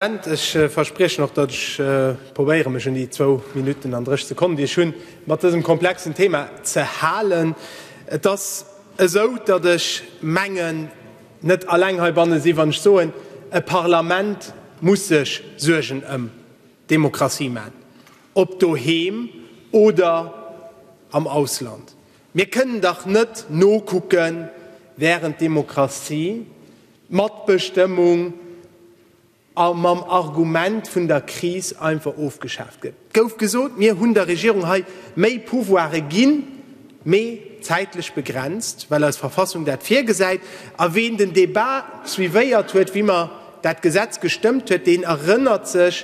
Ech verspriechen och, datt ech probéiere mech un déi zwou Minutten an 30 Sekonnen, déi ech hunn, mat dësem komplexen Thema ze halen. Et ass esou, datt ech mengen, net alleng heibanne sinn, wann ech soen, e Parlament muss sech Suergen ëm d'Demokratie maachen, ob doheem oder am Ausland. Mir kënnen dach net nokucken, während d'Demokratie Matbestëmmung a mam Argument vun der Kris einfach ofgeschaaft gëtt. Et gouf gesot, mir hunn der Regierung hei méi Pouvoire ginn, mee zäitlech begrenzt, well eis Verfassung dat virgesäit. A ween den Débat suivéiert huet, wéi mer dat Gesetz gestëmmt huet, deen erënnert sech,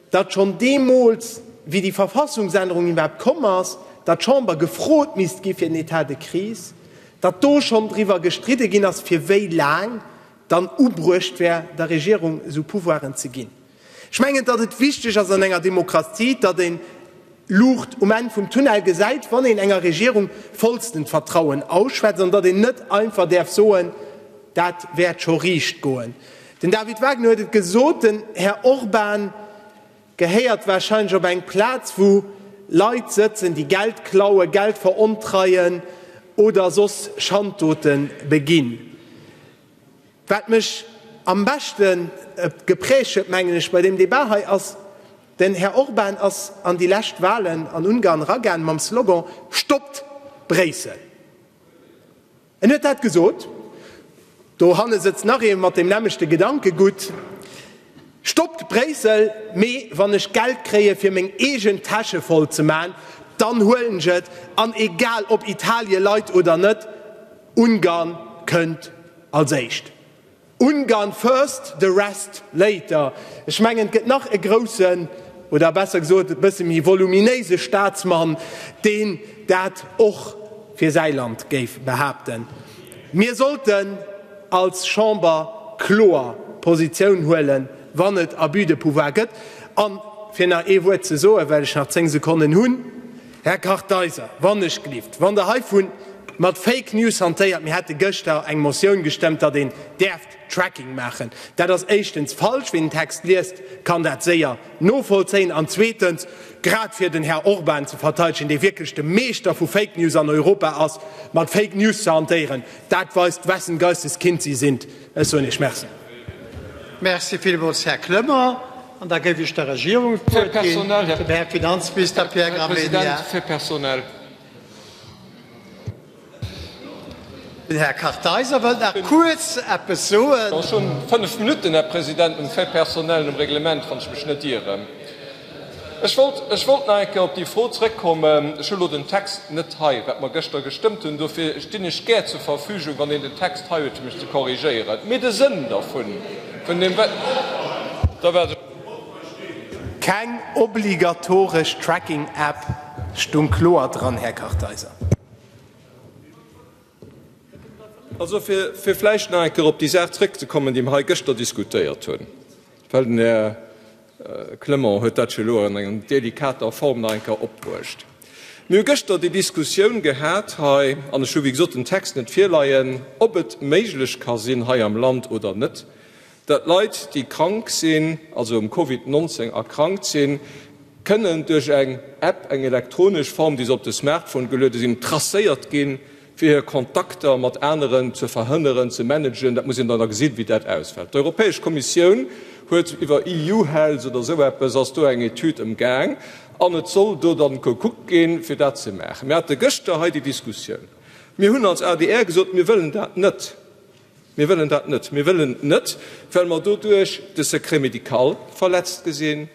datt schonn deemools, wéi déi Verfassungsännerung iwwerhaapt komm ass, datt d'Chamber gefrot misst gi fir den État de crise, datt do schonn driwwer gestridde ginn ass, fir wéi laang dann ubruecht wär, der Regierung esou Pouvoiren ze ginn. Ech mengen, datt et wichteg ass an enger Demokratie, datt een d'Luucht um Enn vum Tunnel gesäit, wann een enger Regierung vollstent Vertrauen ausschwätzt, an datt een net einfach däerf soen, dat wäert scho riicht goen. Den David Wagner huet et gesot, den Här Orban gehéiert wahrscheinlech op eng Plaz, wou Leit sëtzen, déi Geld klauen, Geld verontreien oder soss Schanddote beginn. Wat mech am beschte geprägt huet, mengen ech, bei deem Debat hei ass, Den Här Orban ass an déi lescht Wahlen an Ungarn eragaan mam Slogan Stoppt Bréissel! En huet dat gesot. Dohanne sëtzt nach ee mat deem nämmlechte Gedankegutt. Stoppt Bréissel, mee wann ech Geld kréie fir meng eegen Täsche voll ze man, dann huelen ech et, an egal ob Italie leit oder net, Ungarn kënnt als éischt. Ungarn first, the rest later. Ech mengen, et gëtt nach e groussen, oder besser gesot e bësse méi voluminéise Staatsmann, deen dat och fir säi Land géif behaapten. Mir sollten als Chamber kloer Positioun huelen, wann et Abus de pouvoir gëtt. A fir nach ee Wuert ze soen, well ech nach zéng Sekonnen hunn, Här Kartheiser, wannechgelift, wann Der hei vu mat Fake News hantéiert, mir hätte gëschter eng Motioun gestëmmt, datt een däerft Tracking maachen, dat ass éischtens falsch. Ween den Text liest, kann dat séier novollzéien. An zweetens, grad fir den Här Orban ze verteidegen, dee wierklech de Meeschter vu Fake News an Europa ass, mat Fake News ze hantéieren, dat weist, wessen Geistes Kind si sinn. Ech soen Iech Merci. Merci villmools, Här Clement. An da géif ech der Regierung d'Wuert ginn, dem Här Finanzminister Pierre Gramegna. Den Här Kartheiser wëllt nach kuerz eppes soen. Ech wollt, ech wollt nach eng Kéier op déi Fro zrëckkommen. Ech hu lo den Text net hei, wat mer gëschter gestëmmt hunn. Dofir stinn ech gär zur Verfügung, wann een den Text hei huet, fir mech ze korrigéieren. Mee de Sënn dervun, vun deem, wat Der wart elo. Keng obligatoresch Tracking-App stoung kloer dran, Här Kartheiser. Also, fir vläicht nach eng Kéier op déi Saach zrëckzekommen, déi mer hei gëschter diskutéiert hunn, well den Här Clement huet dat jo elo an enger delikater Form nach eng Kéier opbruecht. Mir hu gëschter déi Diskussioun gehat hei, an ech hu wéi gesot den Text net virleien, ob et méiglech ka sinn hei am Land oder net, Datt Leit, déi krank sinn, also um Covid 19 erkrankt sinn, kënnen duerch eng App, eng elektronesch Form, déi se op de Smartphone geluede sinn, tracéiert ginn, fir hir Kontakter mat aneren ze verhënneren, ze managen. Dat muss een dann da gesinn, wéi dat ausfält. D'Europäesch Kommissioun huet iwwer EU-Health oder esou eppes ass do eng Etüd am Gaang an et soll do dann gekuckt ginn, fir dat ze maachen. Mir hate gëschter hei déi Diskussioun. Mir hunn als adr gesot, mir wëllen dat net. Mir wëllen dat net. Mir wëllen et net, well mer doduerch de Secret médical verletzt gesinn,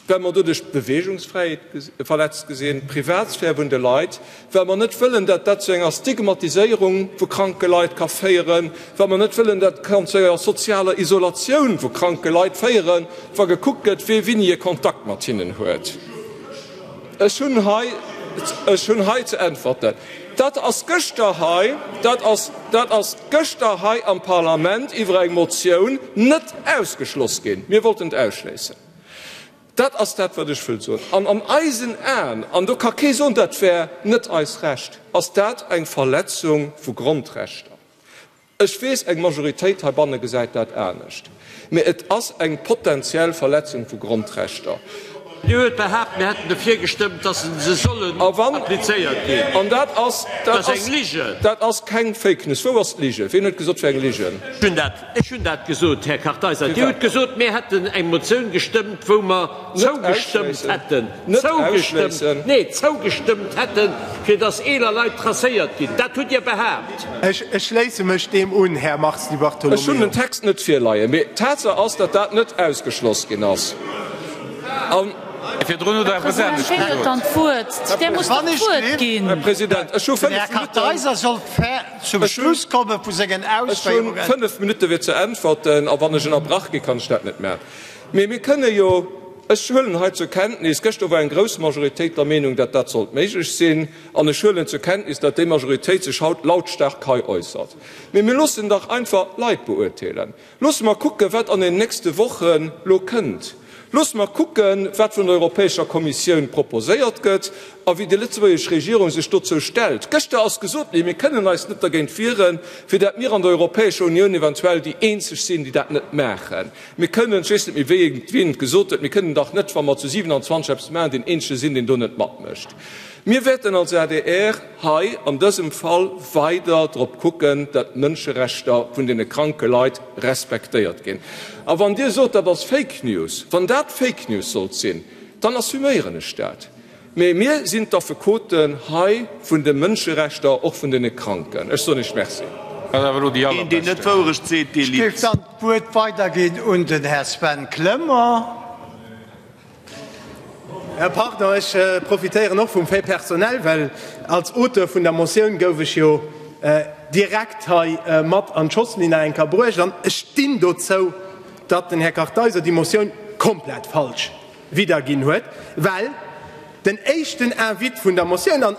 well mer doduerch d'Beweegungsfräiheet verletzt gesinn, d'Privatsphär vun de Leit, well mer net wëllen, datt dat zu enger Stigmatiséierung vu kranke Leit ka féieren, well mer net wëllen, datt kann zu enger sozialer Isolatioun vu kranke Leit féieren, wa gekuckt gëtt, wee wéini e Kontakt mat hinnen huet. Ech hunn hei, ech hunn hei ze äntwerten, dat ass gëschter hei, dat ass, dat ass gëschter hei am Parlament iwwer eng Motioun net ausgeschloss ginn, mir wollten et ausschléissen. Dat ass dat, wat ech wëll soen. An an eisen Aen, an do ka kee soen, dat wär net eist Recht, ass dat eng Verletzung vu Grondrechter. Ech weess, eng Majoritéit heibanne gesäit dat anescht, mä et ass eng potentiell Verletzung vu Grondrechter. Dir huet behaapt, mir hätten dofir gestëmmt, dass se sollen applizéiert ginn. Dat ass eng Lige. Dat ass keng Fake News. Wou ass d'Lige? Wien huet gesot, et wär eng Lige? Ech hunn dat gesot, Här Kartheiser. Dir hutt gesot, mir hätten eng Motioun gestëmmt, wou mer, zougestëmmt hätten, nee, zougestëmmt hätten, fir dass eeler Leit tracéiert ginn. Dat hutt Dir behaapt. Ech schléisse mech deem un, Här Mars Di Bartolomeo. Ech hunn den Text net virleien, mee d'Tatsaach ass, datt dat net ausgeschloss ginn ass. An. Virdrun hutt Der eppes Ähnlecht gesot. Här President, ech hu fënnf Minutten. Ech hunn fënnf Minutten, fir ze äntwerten. A wann ech ënnerbrach ginn, kann ech dat net maachen. Mee mir kënne jo, ech huelen hei zur Kenntnis, gëschter war eng grouss Majoritéit der Meenung, datt dat sollt méiglech sinn, an ech huelen zur Kenntnis, datt déi Majoritéit sech haut lautstark hei äussert, mee mir loossen dach einfach d'Leit beurteelen. Loosse mer kucken, wat an den nächste Wochen elo kënnt. Loosse mer kucken, wat vun der Europäescher Kommissioun proposéiert gëtt a wéi déi lëtzebuergesch Regierung sech dozou stellt. Gëschter ass gesot ginn, mir kënnen eis net dergéint wieren, fir datt mir an der Europäescher Unioun eventuell déi Eenzeg sinn, déi dat net maachen. Mir kënnen, ech weess net méi wéi et, wien et gesot huet, mir kënnen dach net, wa mer zu 27 eppes maachen, deen eenzege sinn, deen do net matmécht. Mir wäerten als adr hei an dësem Fall weider drop kucken, datt d'Mënscherechter vun deene kranke Leit respektéiert ginn. A wann Dir sot, dat ass Fake News, wann dat Fake News sollt sinn, dann assuméieren ech dat. Mee mir sinn d'Affekoten hei vun de Mënscherechter, och vun deene Kranken. Ech soen Iech Merci. Deen, deen net d'Wourecht seet, dee litt. Ech géif dann d'Wuert weiderginn un den Här Sven Clement. Pardon, ech profitéieren och vum Fait personnel, well als Auteur vun der Motioun gouf ech jo direkt hei mat an d'Schossline eng Kéier bruecht. An ech stinn dozou, datt den Här Kartheiser déi Motioun komplett falsch widderginn huet, well den éischten Invite vun der Motioun, an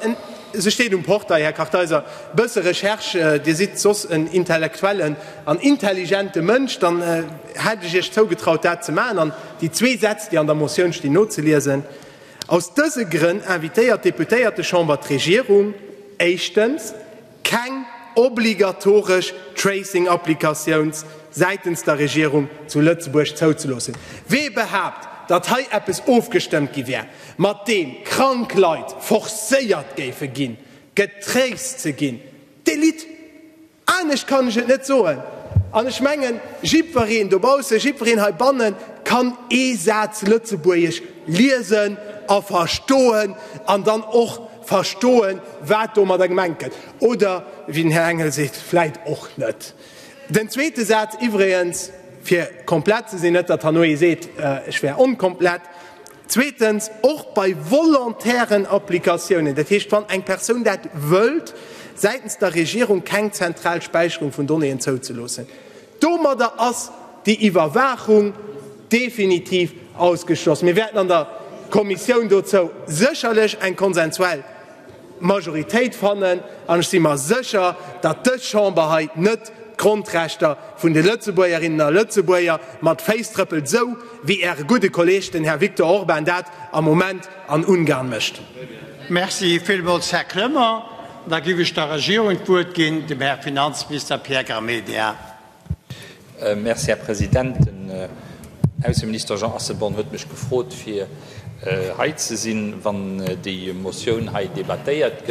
se steet um Portail, Här Kartheiser, e bësse Recherche, Dir sidd soss en intellektuellen an intelligente Mënsch, dann hätt ech Iech zougetraut, dat ze maachen an déi zwee Sätz, déi an der Motioun stinn, nozeliesen, Aus dëse Grënn invitéiert d'Deputéiertechamber d'Regierung, éischtens, Keng obligatoresch Tracing-Applikatiouns säitens der Regierung zu Lëtzebuerg zouzeloossen. Wee behaapt, datt hei eppes ofgestëmmt gi wär, mat deem krank Leit forcéiert géife ginn, getraced ze ginn, dee litt. Anescht kann ech et net soen. An ech mengen, jiddwereen dobaussen, jiddwereen heibanne kann ee Saz Lëtzebuergesch liesen a verstoen an dann och, Verstoen, wat domadder gemengt gëtt, oder wéi den Här Engel seet, vläit och net. Den zweete Saz iwwregens, fir komplett ze sinn, net datt herno ee seet, ech wär onkomplett, zweetens, och bei volontären Applikatiounen, dat heescht wann eng Persoun dat wëllt, säitens der Regierung keng zentral Späicherung vun Donnéeën zouzeloossen, Domadder ass déi Iwwerwaachung definitiv ausgeschloss. Mir wäerten an der Kommissioun dozou sécherlech eng konsensuell Majoritéit fannen, an ech si mer sécher, datt dës Chamber hei net d'Grondrechter vun de Lëtzebuergerinnen a Lëtzebuerger mat Féiss trëppelt, esou wéi Äre gudde Kolleeg, den Här Viktor Orban, dat am Moment an Ungarn mécht. Merci villmools, Här Kremer. Da géif ech der Regierung d'Wuert ginn, dem Här Finanzminister Pierre Gramegna. Merci, Här President. Den Ausseminister Jean Asselborn huet mech gefrot, fir hei ze sinn, wann déi Motioun hei debattéiert gëtt.